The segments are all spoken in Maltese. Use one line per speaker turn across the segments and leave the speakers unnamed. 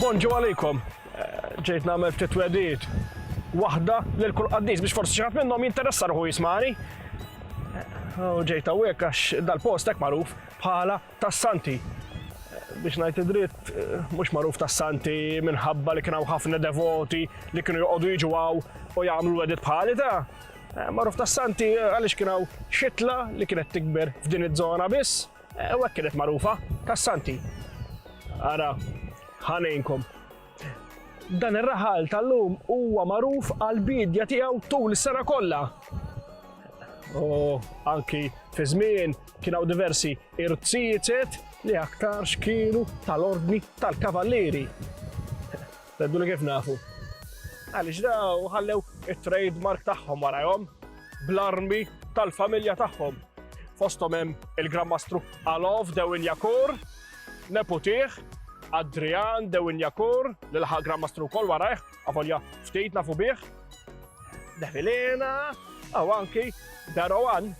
Bonġu għalikom. Ġejt nagħmel ftit twedijiet. Waħda lil kull qaddis biex forsi xi ħadd minnhom jinteressa ruħu jismani. U ġejt hawnhekk għax dal-post hekk magħruf bħala tas-Santi. Biex ngħid id-dritt, mhux magħruf tas-Santi minħabba li kien hawn ħafna devoti li kienu joqogħdu jiġu hawn u jagħmlu wedit bħali ta' eh, magħruf tas-Santi għaliex kien hawn xitla li kienet tikber f'din iż-żona biss eh, u hekk kienet magħrufa tas-Santi. Ara, ħanejnkom. Dan ir-raħal tal-lum huwa magħruf għal bidja tiegħu tul is-sena kollha. U anki fi żmien Kien hawn diversi irziezet li aktarx kienu tal-ordni tal-kavallieri. Tgħiduli kif nafu. Għaliex daw ħallew it-trade mark tagħhom warajhom bl-armi tal-familja tagħhom. Fosthom hemm il-Grammastru Alov Dewinjakur, neputih, Adrian Dewinjakur, li laħaq Grammastru wkoll warajh, avolja ftit nafu bih. Devilena, aw anki Darowan,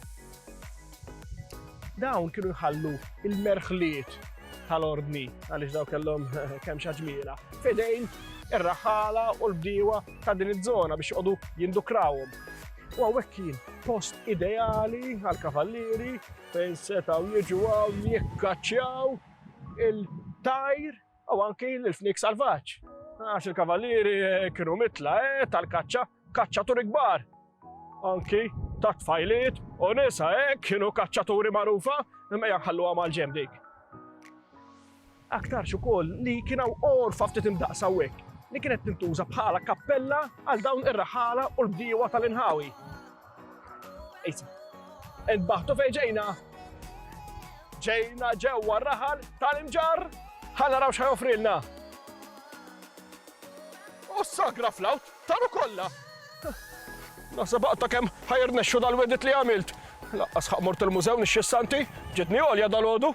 Dawn kienu jħallu il-merħliet tal-ordni għaliex daw kellhom kemm xaġmiela fidejn ir-raħala u l-bdiewa ta' din iż-żona biex joqogħdu jindukrawhom. U għawek kien post ideali għal-kavallieri fejn setaw jiġu għaw jikkaċċjaw il-tajr u anki l-fnik salvaġġ. Għax il-kavallieri kienu mitla eh, tal-kaċċa, kaċċaturi kbar. Anki ta' tfajliet u nisa eh, kienu kaċċaturi magħrufa, imma jaħallu għamal ġem dik. Aktarx ukoll li kienu orfa ftit imdaqsa hekk li kienet tintuża bħala kappella għal dawn ir-raħala u l-bdiewa tal-inħawi. Inbaħtu fejn ġejna. Ġejna ġewwa raħal tal-imġar. Ħalla raw x'ħajofrilna. U sagra flawt, taru kollha. Nasa baqta kemm ħajr nexxu dal-wedit li għamilt. Laqqas ħaq mort il-mużew nixxi santi, ġitni għolja dal-għodu.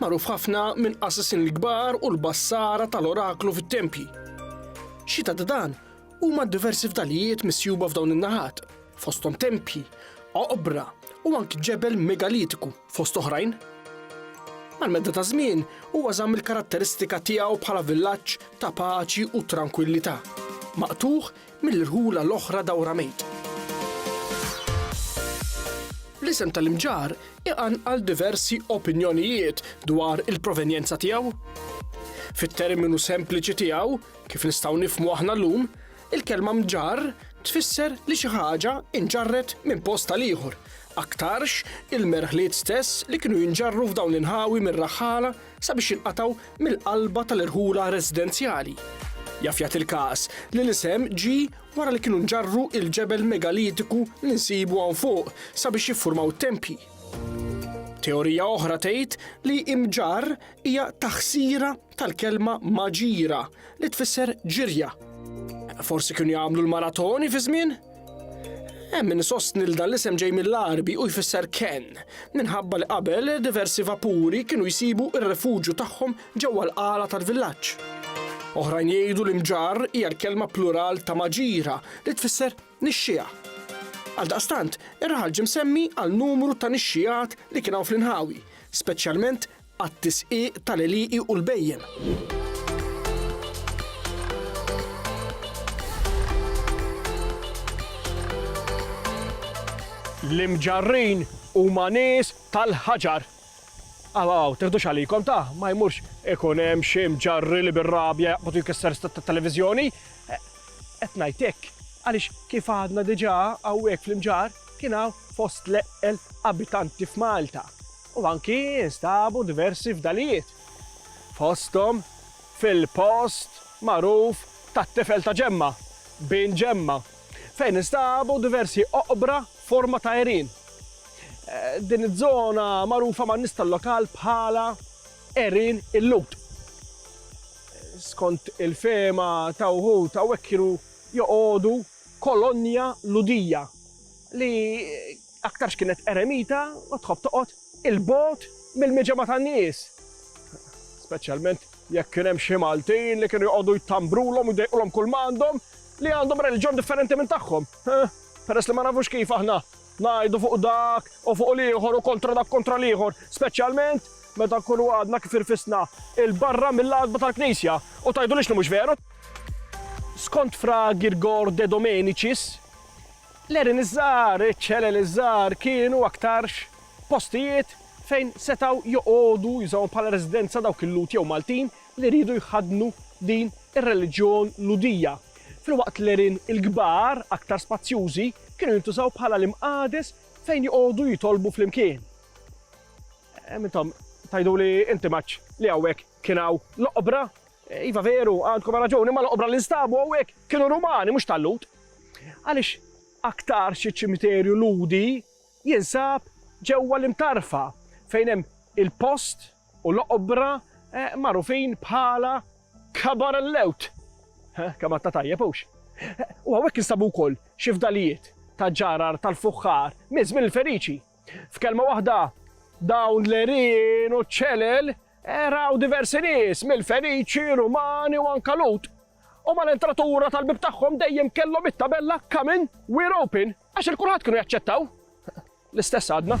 magħruf ħafna minn qassisin l-kbar u l-bassara tal-oraklu fit-tempji. Xi ta' dan huma diversi fdalijiet misjuba f'dawn in-naħat, fosthom tempji, oqbra u anki ġebel megalitiku fost oħrajn. Mal-medda ta' żmien huwa żamm il-karatteristika tiegħu bħala villaġġ ta' paċi u trankwillità, maqtugħ mill-irħula l-oħra dawra mejt. L-isem tal-imġarr iqanqal diversi opinjonijiet dwar il-provenjenza tiegħu. Fit-terminu sempliċi tiegħu, kif nistgħu nifhmu aħna llum, il-kelma mġarr tfisser li xi ħaġa inġarret minn post għal ieħor, aktarx il-merħliet stess li kienu jinġarru f'dawn l-inħawi mir-raħħala sabiex jinqatgħu mill-qalba tal-irħula residenzjali. Jaf jagħti l-każ li l-isem ġie wara li kienu nġarru il-ġebel megalitiku li nsibu hawn fuq sabiex jiffurmaw tempji. Teorija oħra tgħid li imġar hija taħsira tal-kelma maġira li tfisser ġirja. Forsi kienu jagħmlu l-maratoni fi żmien? Hemm min isostni li dan l-isem ġej mill-Għarbi u jfisser kenn, minħabba li qabel diversi vapuri kienu jsibu r-rifuġju tagħhom ġewwa l-qala tal-villaġġ. Oħrajn jgħidu li mġarr hija l-kelma plural ta' maġira li tfisser nixxiegħa. Għaldaqstant, ir-raħal ġie msemmi għal numru ta' nixxiegħat li kien hawn fl-inħawi, speċjalment għat-tisqiq tal-għelieqi u l-bhejjem. L-imġarrin huma nies tal-ħaġar. Aw, teħdux għalikom ta' ma jmurx ikun hemm xi mġarri li bir-rabja jaqbad jkisser stat tat-televiżjoni. E, qed ngħidlek għaliex kif għadna diġà hawnhekk fl-imġar kien hawn fost l-eqqel abitanti f'Malta. u anki nstabu diversi fdalijiet fosthom fil-post magħruf tat-tifel ta' Ġemma, Bin Ġemma, fejn instabu diversi oqbra forma ta' għerien. Din iż-żona magħrufa man-nies tal-lokal bħala Għerien il-Lut. Skont il-fehma ta' wħud hawnhekk kienu joqogħdu kolonja Ludija li Aktarx kienet eremita u tħobb toqgħod 'il bogħod mill-miġemgħa tan-nies. Speċjalment jekk kien hemm xi Maltin li kienu joqogħdu jtambrulhom u jdejqulhom kull ma għandhom li għandhom reliġjon differenti minn tagħhom. Peress li ma nafux kif aħna ngħidu fuq dak u fuq l-ieħor u kontra dak kontra l-ieħor, speċjalment meta nkunu għadna kif irfisna il-barra mill-għadba tal-Knisja u tgħidulix li mhux veru. Skont Fra Girgor de Domenicis, L-għerien iż-żgħar, iċ-ċelel iż-żgħar kienu aktarx postijiet fejn setgħu joqogħdu, jużawhom bħala residenza dawk il-Lhud jew Maltin li riedu jħaddnu din ir-reliġjon Lhudija, filwaqt l-għerien il-kbar, aktar spazjużi, kienu jintużaw bħala l-imqagħdes fejn joqogħdu jitolbu flimkien. Hemm intom tgħiduli inti Maċ li hawnhekk kien hawn l-oqbra? Iva veru, għandkom raġun, imma l-oqbra li nstabu hawnhekk kienu Rumani, mhux tal-Lhud. Għaliex aktarx iċ-ċimiterju Lhudi jinsab ġewwa l-Imtarfa, fejn hemm il-post u l-oqbra magħrufin bħala Kabar el-Lewt. Kamatta tajjeb, hux? U hawnhekk instabu wkoll xi fdalijiet ta' ġarar tal-fuħħar minn żmien il-Feniċi. F'kelma waħda, dawn l-għerien u ċ-ċelel raw diversi nies mill-Feniċi, Rumani u anke Lhud. U mal-entratura tal-bieb tagħhom dejjem kellhom it-tabella Come in, we're open, għax il-kulħadd kienu jaċċettaw. L-istess għadna.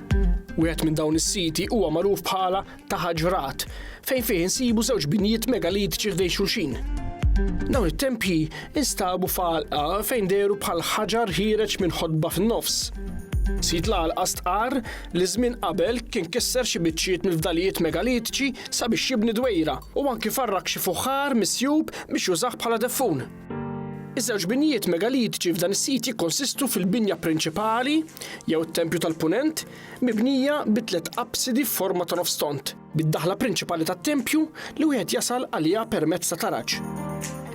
Wieħed minn dawn is-siti huwa magħruf bħala Ta' Ħaġrat, fejn fih insibu żewġ binjiet megalitiċi ħdejn xulxin. Dawn it-tempji instabu f'għalqa fejn dehru bħal ħaġar ħiereġ minn ħodba fin-nofs. Sid l-għalqa stqarr li żmien qabel kien kisser xi biċċiet mill-fdalijiet megalitiċi sabiex jibni dwejra u anki farrak xi fuħħar misjub biex jużah bħala deffun. Iż-żewġ binjiet megalitiċi f'dan is-sit jikkonsistu fil-binja prinċipali, jew it-tempju tal-Punent, mibnija bi tliet absidi f'forma ta' nofs tond, bid-daħla prinċipali tat-tempju li wieħed jasal għaliha permezz ta' taraġ.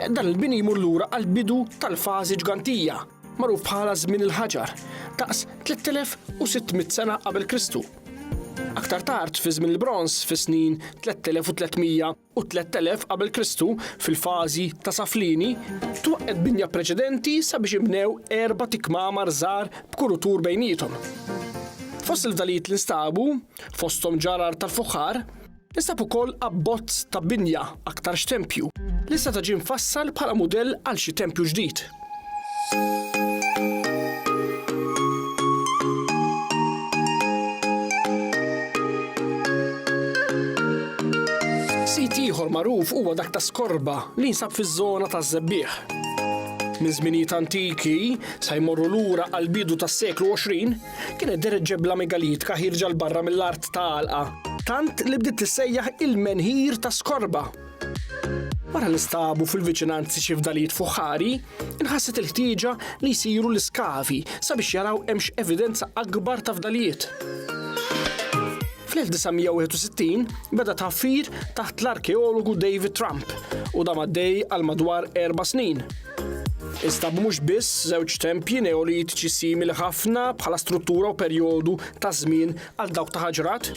Dan il-bini jmur lura għall-bidu tal-fażi Ġgantija, magħruf bħala Żmien il-Ħaġar, daqs 3600 sena qabel Kristu. Aktar tard, fi Żmien il-Bronż, fis-snin 3300, u 3000 qabel Kristu fil-fażi ta' Saflini, twaqqgħet binja preċedenti sabiex inbnew erbat ikmamar żgħar b'kurutur bejniethom. Fost il-fdalijiet li nstabu, fosthom ġarar tal-fuħħar, instab ukoll abbozz ta' binja aktarx tempju li seta' ġie mfassal bħala mudell għal xi tempju ġdid. Sit ieħor magħruf huwa dak ta' Skorba li jinsab fiż-żona taż-Żebbiegħ. Minn żminijiet antiki sa jmorru lura għal bidu tas-seklu 20 kienet deret ġebla megalitka ħirġa l barra mill-art ta' għalqa tant li bdiet tissejjaħ il-menhir ta' Skorba. Wara li nstabu fil-viċinanzi xi fdalijiet fuħħari, inħasset il-ħtieġa li jsiru l-iskavi sabiex jaraw hemmx evidenza akbar ta' fdalijiet. Fl-1961 beda tħaffir taħt l-arkeologu David Trump u da maddej għal madwar erba' snin. Instab mhux biss żewġ tempji neolitiċi simili ħafna bħala struttura u perjodu ta' żmien għal dawk ta' ħaġrat,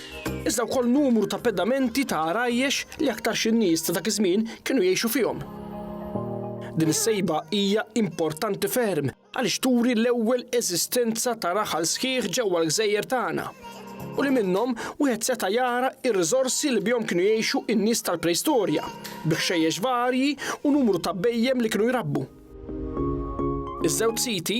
iżda wkoll numru ta' pedamenti ta' għarajjex li aktarx in-nies ta' dak iż-żmien kienu jgħixu fihom. Din is-sejba hija importanti ferm għaliex turi l-ewwel eżistenza ta' raħal sħiħ ġewwa l-gżejjer tagħna u li minnhom wieħed seta' jara r-riżorsi li bihom kienu jgħixu n-nies tal-preistorja, bi ħxejjex varji u numru ta' bhejjem li kienu jrabbu. Iż-żewġ siti,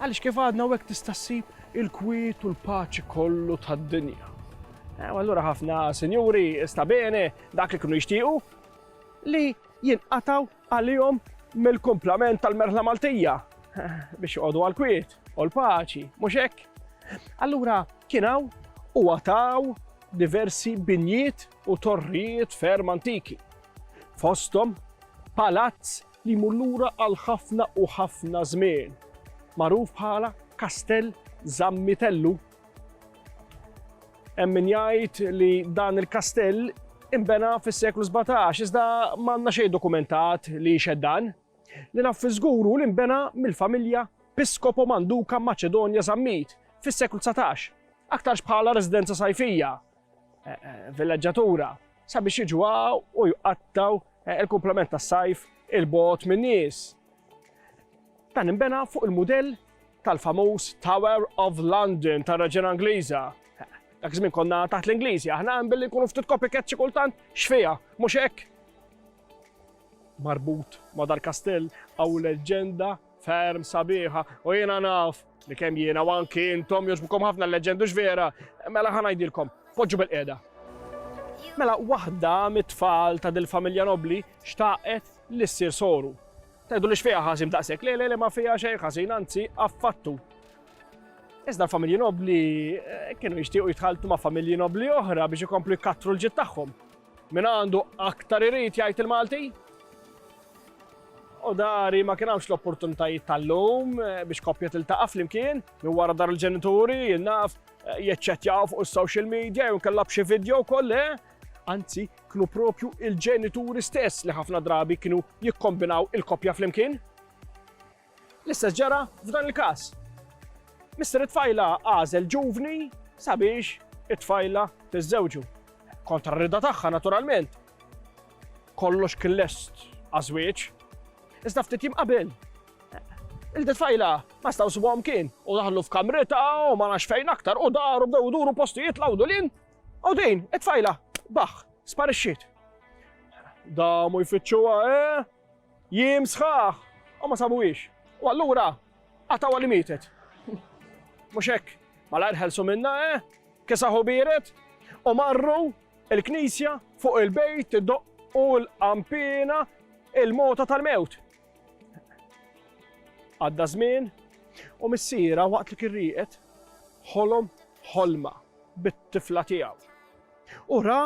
Għaliex kif għadna hawnhekk tista' ssib il-kwiet u l-paċi kollu tad-dinja. U allura ħafna sinjuri sta bene dak li kienu jixtiequ li jinqataw għalihom mill-kumplament tal-merħla Maltija biex joqogħdu għal-kwiet u l-paċi, mhux hekk? Allura kien hawn u għataw diversi binjiet u torrijiet ferm antiki. Fosthom palazz li jmur lura għal ħafna u ħafna żmien, magħruf bħala Kastell Zammitellu. Hemm min jgħid li dan il-kastell inbena fis-seklu 17, iżda m'għandna xejn dokumentat li jxed dan. Li naf fiżguru li nbena mill-familja Piskopo Manduka Maċedonja Zammit fis-seklu 19, aktarx bħala residenza sajfija eh, eh, villaġġatura sabiex jiġu u jqattaw eh, il-komplement tas sajf il-bot minn nies. Dan imbena fuq il-modell tal-famuż Tower of London tar raġena Ingliża. Dak żmien konna taħt l-Ingliżi, aħna hemm billi nkunu ftit copycat xi kultant xfija, mhux hekk. Marbut ma' dal-kastell għaw leġenda Ferm sabiħa, u jiena naf li kemm jiena u anki intom jogħġbukom ħafna l-leġendu x'vera, mela ħa ngħidilkom, poġġu bil-qiegħda. Mela waħda mit-tfal ta' dil-familja nobli xtaqet li ssir soru. Tgħidu li x'fiha ħażin daqshekk, le le le ma fiha xejn ħażin, anzi affattu. Iżda l-familji nobli eh, kienu jixtiequ jitħaltu ma' familji nobli oħra biex ikomplu jkattru l-ġid tagħhom. Min għandu aktar irid jgħid il-Malti? U dari ma kien hawnx l-opportunitajiet tal-lum eh, biex koppja tiltaqa' flimkien minn wara dar il-ġenituri, jinnaf, eh, jeċċettjaw fuq is-social media jew kellha b'xi video wkoll eh? anzi kienu propju il-ġenituri stess li ħafna drabi kienu jikkombinaw il-koppja flimkien. L-istess ġara f'dan il-każ. Mister it-tfajla għażel ġuvni sabiex it-tfajla tiżżewġu. Kontra r-rida tagħha naturalment. Kollox kien lest għaż-żwieġ. Iżda ftit jim qabel il-detfajla ma staw subom kien u daħlu f'kamrita u ma nax fejn aktar u daru bdew duru postijiet lawdu lin u din it-tfajla baħ sparixxiet. Da mu jfittxuha eh? Jiem sħaħ u ma sabuhiex. U allura qatgħuha li mietet. Mhux hekk? Malajr ħelsu minnha, eh? Kisaħu biered u marru il-knisja fuq il-bejt doqqu l-qampina il-mota tal-mewt. Għadda żmien u missiera waqt li kirriqet ħolom ħolma bit-tifla tiegħu. U ra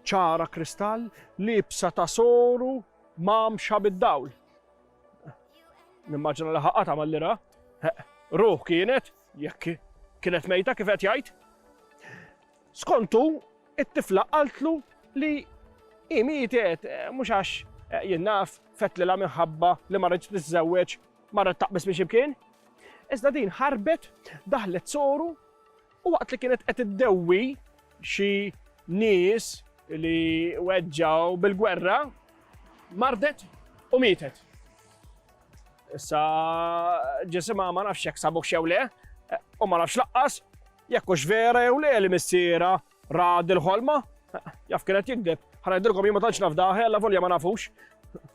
ċara kristall libsa ta' soru Ma mxa bid-dawl. Nimmaġina li ħa qata' mal-lira. Ruħ kienet, jekk kienet mejta kif qed jgħid. Skontu, it-tifla qaltlu li hi mietet eh, mhux għax eh, jien naf fetlilha minħabba li ma rridx tiżżewweġ marret taqbis biex imkien. Iżda din ħarbet daħlet soru U waqt li kienet qed iddewwi xi nies li weġġgħu bil-gwerra, mardet u mietet. Issa ġisimha ma nafx jekk sabuh xew le, u ma nafx laqqas jekk hux vera jew le li missiera ra dil-ħolma, jaf kienet jikdeb. Ħanajdilkom jien ma tantx naf daħi, alla volja ma nafux.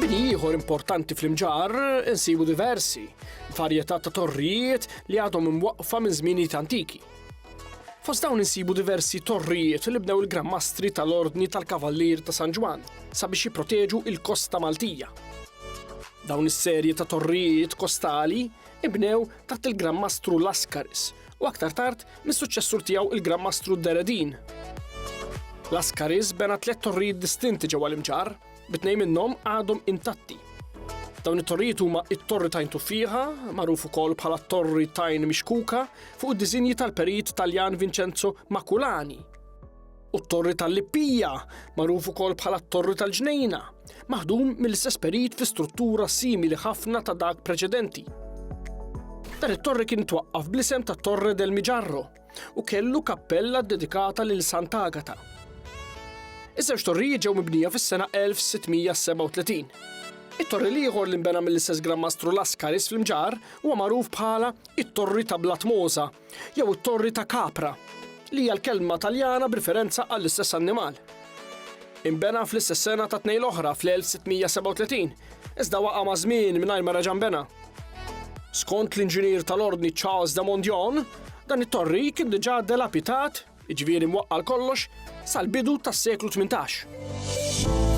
Bini ieħor importanti fl-imġar insibu diversi varjetà ta' torrijiet li għadhom imwaqqfa minn żmienijiet antiki. Fost dawn insibu diversi torrijiet li bnew il-Grammastri tal-Ordni tal-Kavallier ta' San Ġwann sabiex jipproteġu il-kosta Maltija. Dawn is-serje ta' torrijiet kostali ibnew taħt il-Grammastru Laskaris u aktar tard mis-suċċessur tiegħu il-Grammastru Deredin. Laskaris bena tliet torrijiet distinti ġewwa l-imġarr bi tnejn minnhom għadhom intatti. Dawn it-torrijiet huma it-Torri Tajn Tuffiħa, magħruf ukoll bħala Torri Tajn Mixkuka, fuq id-diżinji tal-perit Taljan Vincenzo Makulani. U t-Torri tal-Lippija, magħruf ukoll bħala Torri tal-Ġnejna, maħdum mill-istess perit fi struttura simili ħafna ta' dak preċedenti. Dan it-torri kien twaqqaf bl-isem ta' Torre del Miġarro, u kellu kappella ddedikata lil Sant'Agata. Iż-żewġ torrijiet ġew mibnija fis-sena 1637. It-torri l-ieħor li nbena mill-istess Gran Mastru Laskaris fl-Imġar huwa magħruf bħala it-Torri ta' Blatmosa jew it-Torri ta' Capra, li hija l-kelma Taljana b'riferenza għall-istess annimal. Inbena fl-istess sena ta' tnejn l-oħra fl-1637, iżda waqa' maż-żmien mingħajr ma reġa' nbena. Skont l-inġinier tal-Ordni Charles de Mondion, dan it-torri kien diġà delapitat, jiġifieri mwaqqal kollox, sal-bidu tas-seklu 18.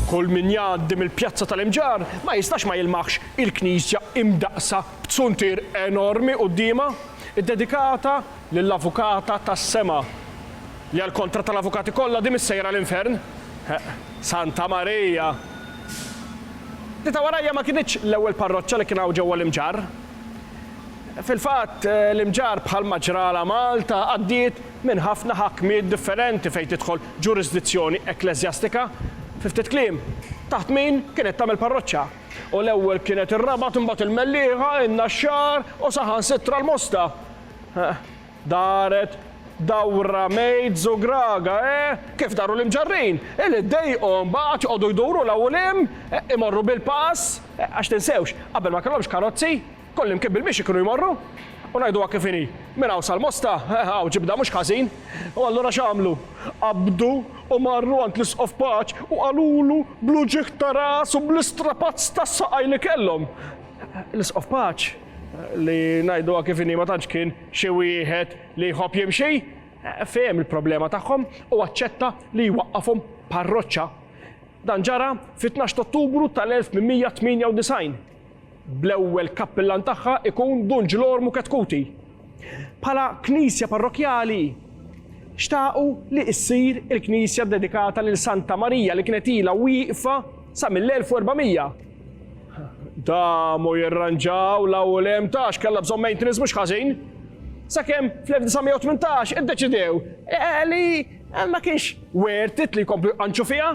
Kull min jgħaddi mill-Pjazza tal-Imġar ma jistax ma jilmaħx il-knisja imdaqsa b'zuntier enormi quddiemha, iddedikata lill-Avukata tas-Sema, li għall-kontra tal-avukati kollha di missejra l-infern. Santa Marija li ta' warajja ma kinitx l-ewwel parroċċa li kien hawn ġewwa l-Imġarr. Fil-fatt, l-Imġarr bħalma ġralha Malta għaddiet minn ħafna ħakmiet differenti fejn tidħol ġurisdizzjoni ekkleżjastika, fi ftit kliem, taħt min kienet tagħmel parroċċa. U l-ewwel kienet ir-Rabat imbagħad il-Mellieħa, in-Naxxar u saħansitra l-Mosta. Daret dawra Mejt Zugraga, eh! Kif daru l-imġarrin, eh li ddejqhom, baqgħu qatt joqogħdu jduru 'l hawn u 'l hemm, eh, imorru bil-pass, eh, għax tinsewx, qabel ma kellhomx karozzi, kullimkien bil-mixi kienu jmorru. U ngħiduha kif inhi, minn hawn sal-Mosta, eh, hawn ġibda mhux ħażin. U allura x'għamlu? Qabdu u marru għand l-Isqof Paċ u qalulu bl-uġigħ ta' ras u bl-istrapazz tas-saqaj li kellhom, L-Isqof Paċ, Li ngħiduha kif inhi ma tantx kien xi wieħed li jħobb jimxi. Fehem il-problema tagħhom u aċċetta li jwaqqafhom parroċċa. Dan ġara fit-tnax t'Ottubru tal-1898, bl-ewwel kappillan tagħha ikun Dun Ġlormu Ketkuti. Bħala knisja parrokkjali, xtaqu li issir il-knisja ddedikata lil Santa Marija li kienet ilha wieqfa sa mill-1400. Damu jirranġaw la u lem tax kalla bżon maintenance mux ħażin. Sakemm fl-1918 iddeċidew eh, li eh, ma kienx worth it li jkomplu jqanċu fiha.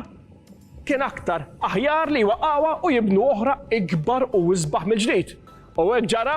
Kien aktar aħjar li waqawa u jibnu oħra ikbar u isbaħ mill-ġdid. U hekk ġara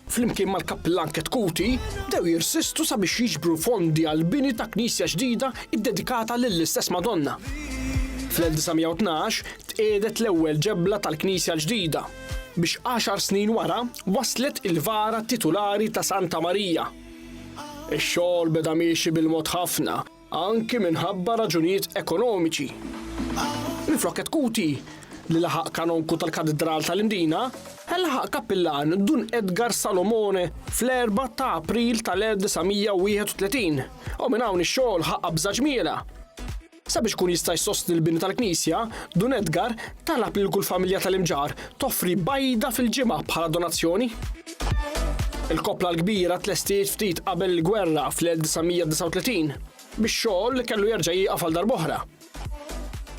flimkien mal-Kappillan Cat Cuti, bdew jirsistu sabiex jiġbru fondi għall-bini ta' knisja ġdida ddedikata lill-istess Madonna. Fl-1912 tqiegħdet l-ewwel ġebla tal-knisja l-ġdida, biex għaxar snin wara waslet il-vara titulari ta' Santa Marija. Ix-xogħol beda miexi bil-mod ħafna. anki minħabba raġunijiet ekonomiċi. Minflok qed kuti li laħaq kanonku tal-Katidral tal-Imdina, Laħaq kappillan Dun Edgar Salomone fl-4 ta' April tal-1931 u minn hawn ix-xogħol ħa qabża ġmielha. Sabiex ikun jista' jsostni l-bini tal-knisja, Dun Edgar Talab lil kull familja tal-imġarr toffri bajda fil-ġimgħa bħala donazzjoni. Il-koppla l-kbira tlestiet ftit qabel il-gwerra fl-1939 biex xogħol kellu jerġa' jieqaf għal darb'oħra.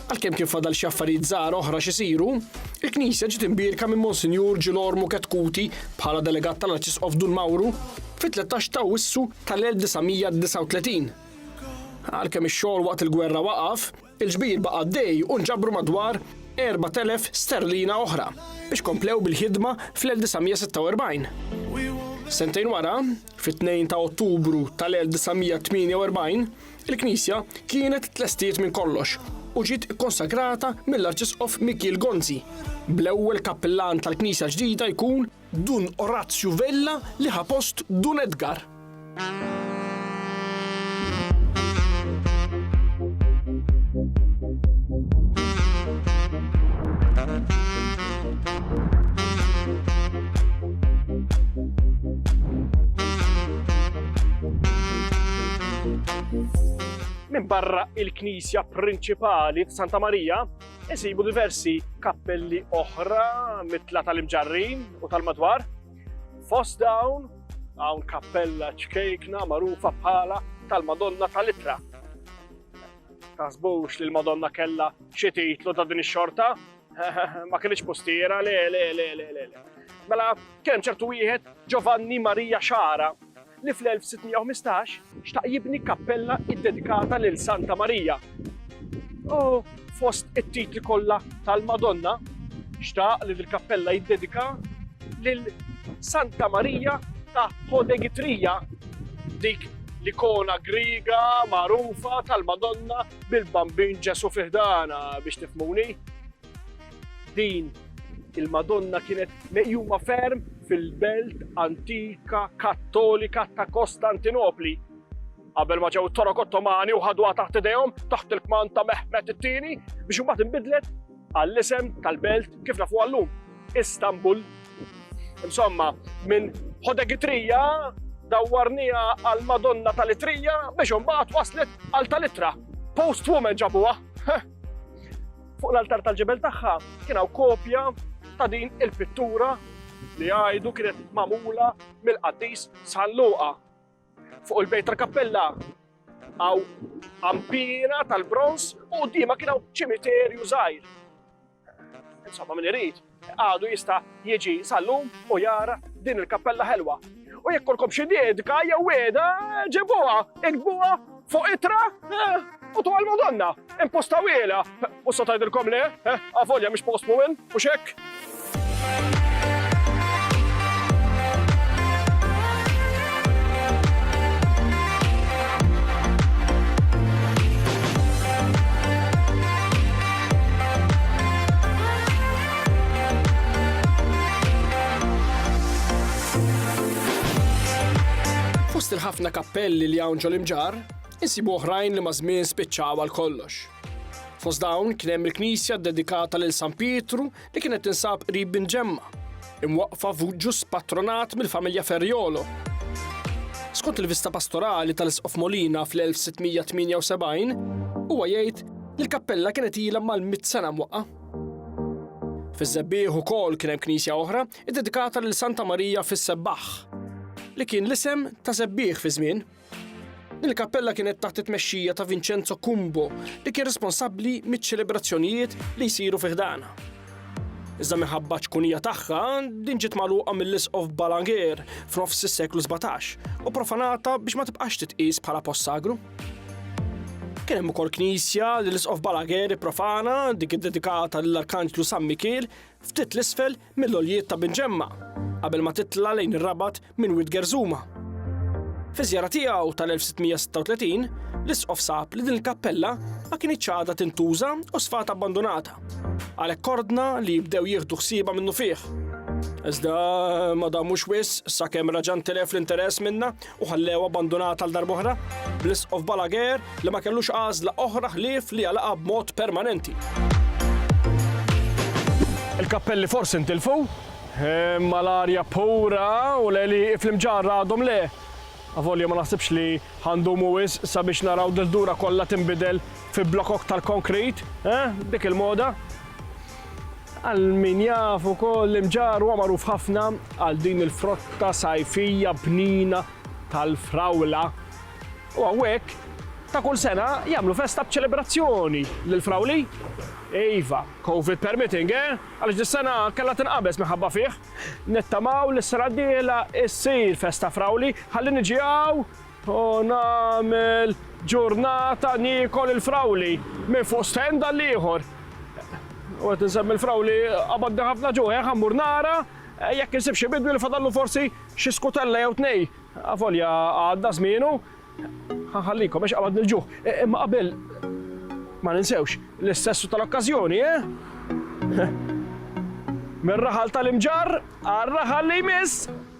Għalkemm kien fadal xi affarijiet żgħar oħra x'isiru, il-knisja ġiet imbierka minn Monsinjur Ġilormu Ketkuti bħala delegat tal-Arċisqof Dun Mawru fit-13 ta' Awwissu tal-1939. Għalkemm ix-xogħol waqt il-gwerra waqaf, Il-ġbir baqa' għaddej u nġabru madwar 4,000 sterlina oħra biex komplew bil-ħidma fl-1946. Sentejn wara, fit-2 ta' Ottubru tal-1948, il-knisja kienet tlestiet minn kollox u ġiet ikkonsagrata mill-Arċisqof Mikiel Gonzi, bl-ewwel kappillan tal-knisja l-ġdida jkun Dun Orazju Vella li ħa post Dun Edgar. Minn barra il-knisja prinċipali f'Santa Marija, Isibu diversi kappelli oħra mitla tal-imġarrin u tal-madwar. Fost dawn hawn kappella ċkejkna magħrufa bħala tal-Madonna tal-Itra. Taħsbux li l-Madonna kella xi titlu ta' din ix-xorta? Ma kienx postiera, le, le, le, le, le. Mela, kien ċertu wieħed Giovanni Maria Xara li fl-1615 xtaq jibni kappella iddedikata lil Santa Marija u fost it-titli kollha tal-Madonna xtaq li l-kappella jiddedika lil Santa Marija ta' Hodegitrija, dik l-ikona Griega magħrufa tal-Madonna bil-Bambin Ġesù fi ħdanha biex tifhmuni. Din il-Madonna kienet meqjuma ferm fil-belt antika Kattolika ta' Kostantinopli. Qabel ma ġew torok Ottomani u ħadwa taħt idejhom taħt il-kmand ta' Mehmet it-tieni biex imbagħad inbidlet għall-isem tal-belt kif nafu għallum Istanbul. Insomma, minn Ħodegitrija dawwarnija għal Madonna tal-Itrija biex imbagħad waslet għal tal-Itra. Post woman ġabuha. Fuq l-altar tal-ġebel tagħha kien hawn kopja ta' din il-pittura li għajdu kienet mamula mill-qaddis San Luqa. Fuq il-bejt tal-kappella għaw ampina tal-bronz u dima kien hawn ċimiterju żgħir. Insomma, min irid Għadu jista' jiġi sal-lum u jara din il-kappella ħelwa. U jekk kolkom xi diedka jew wieda, ġibuha, iktbuha fuq itra u tu għal-Madonna. Impostawiela. U sa tgħidilkom le, avolja mhix post mumin, mhux hekk? Fost il-ħafna kappelli li hawn ġol-imġar, insibu oħrajn li maż-żmien spiċċaw għal kollox. Fost dawn kien hemm il-knisja ddedikata lil San Pietru li kienet tinsab qrib Bin Ġemma, imwaqqfa f'ġus patronat mill-familja Ferriolo. Skont il-vista pastorali tal-Isqof Molina fl-1678, huwa jgħid li l-kappella kienet ilha mal-mit sena mwaqqa. Fiż-żebbieħ ukoll kien hemm knisja oħra iddedikata lil Santa Marija fis-Sebbaħ, li kien l-isem ta' żebbieħ fi żmien Il-kappella kienet taħt it-tmexxija ta' Vincenzo Cumbo li kien responsabbli miċ-ċelebrazzjonijiet li jsiru fi ħdana. Iżda minħabba ċkunija tagħha din ġiet magħluqa mill-Isqof Balaguer f'nofs is-seklu 17 u profanata biex ma tibqax titqies bħala post sagru. Kien hemm ukoll knisja li l-Isqof Balaguer profana dik iddedikata lill-Arkanġlu San Mikiel ftit l-isfel mill-għoljiet ta' Binġemma qabel ma titla' lejn ir-Rabat minn Wied Gerżuma. Fiż-żjara tiegħu tal-1636, l-Isqof sab li din il-kappella ma kinitx għadha tintuża u sfat abbandunata. Għalhekk ordna li jibdew jieħdu ħsiebha minnufih. Iżda ma damux wisq sakemm reġa' ntilef l-interess minnha u ħallewha abbandunata għal darb'oħra, bl-Isqof Balaguer li ma kellux għażla oħra ħlief li jagħlaqha b'mod permanenti. Il-kappelli forsi ntilfu, imma l-arja pura u l-għeliq fl-imġarr għadhom le. Avolja ma naħsibx li għandhom wis sabiex naraw dil-dura kollha tinbidel fi blokok tal-konkrit, eh, dik il-moda. Għal min jaf ukoll l-Imġarr huwa magħruf ħafna għal din il-frotta sajfija bnina tal-frawla. U hawnhekk ta' kull sena jagħmlu festa b'ċelebrazzjoni lill-frawli. Iva, Covid permitting, eh? Għaliex dis-sena kellha tinqabeż minħabba fih. Nittamaw li s-sena d-dieħla issir festa frawli ħalli niġi hawn Hu nagħmel ġurnata niekol il-frawli minn fuq stand għal ieħor. U qed insemmi l-frawli qabadni ħafna ġuħ, eh, ħammur nara eh, jekk insib xi bidwi li fadallu forsi xi skutella jew tnej. Avolja għadda żmienu. Ħanħallikom għax qabadni l-ġuħ. Eh, imma qabel ma ninsewx l-istessu tal-okkażjoni, eh? Mir-raħal tal-imġar għar-raħal li jmiss.